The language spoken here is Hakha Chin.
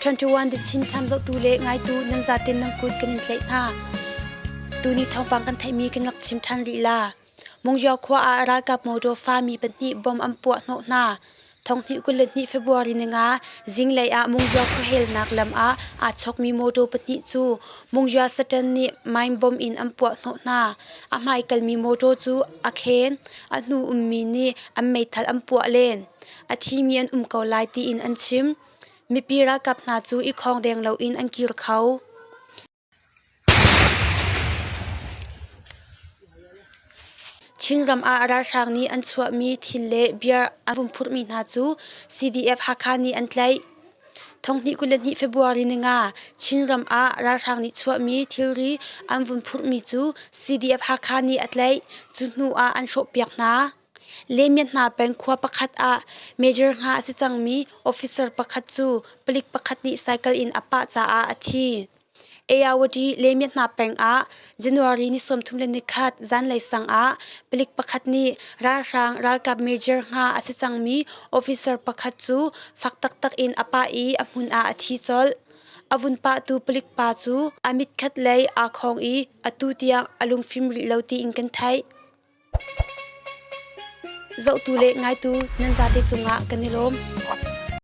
21 December zohtu le ngaitu nan zatin nan kut kan in tlaih hna. Tuni thawngpang kan theihmi kan rak chim ṭhan lila. Mungyo khua ah ralkap motor fami pahnih bom an puah hnawh hna. Thonghnih kul le hnih February ninga zinglei ah Mungyo khuahelnak lam ah aa chawkmi motor pahnih cu Mungyo Satan nih mine bomb in an puah hnawh hna. A hmaikalmi motor cu a khen, a hnu ummi nih an meithal an puah len. a thimi an um ko lai tiin an chim. Mipi ralkap hna cu i khawng deng loin an kir kho. Chinram ah ralhrang nih an chuahmi thil le bia an vun phurhmi hna cu CDF-Hakha nih an tlaih. Thonghnih kul le hnih February ni nga Chinram ah ralhrang nih chuahmi thilri an vun phurhmi cu CDF-Hakha nih a tlaih. Cu hnu ah an hrawhpiak hna. Lemia hna peng khua pakhat ah major nga a si cangmi officer pakhat cu palik pakhat nih cycle in a pah caah a thi. Eyawady Lemia hna peng ah January ni sawmthum le nikhat zanlei sang ah palik pakhat nih ralhrang ralkap major nga a si cangmi officer pakhat cu fak taktak in a pah i a hmun ah a thi colh. A vun pahtu palik pa cu a mit khat lei aa khawng i atu tiang a lungfim rih lo tiin kan theih. Zohtu le ngaitu nan zate cungah kan i lawm.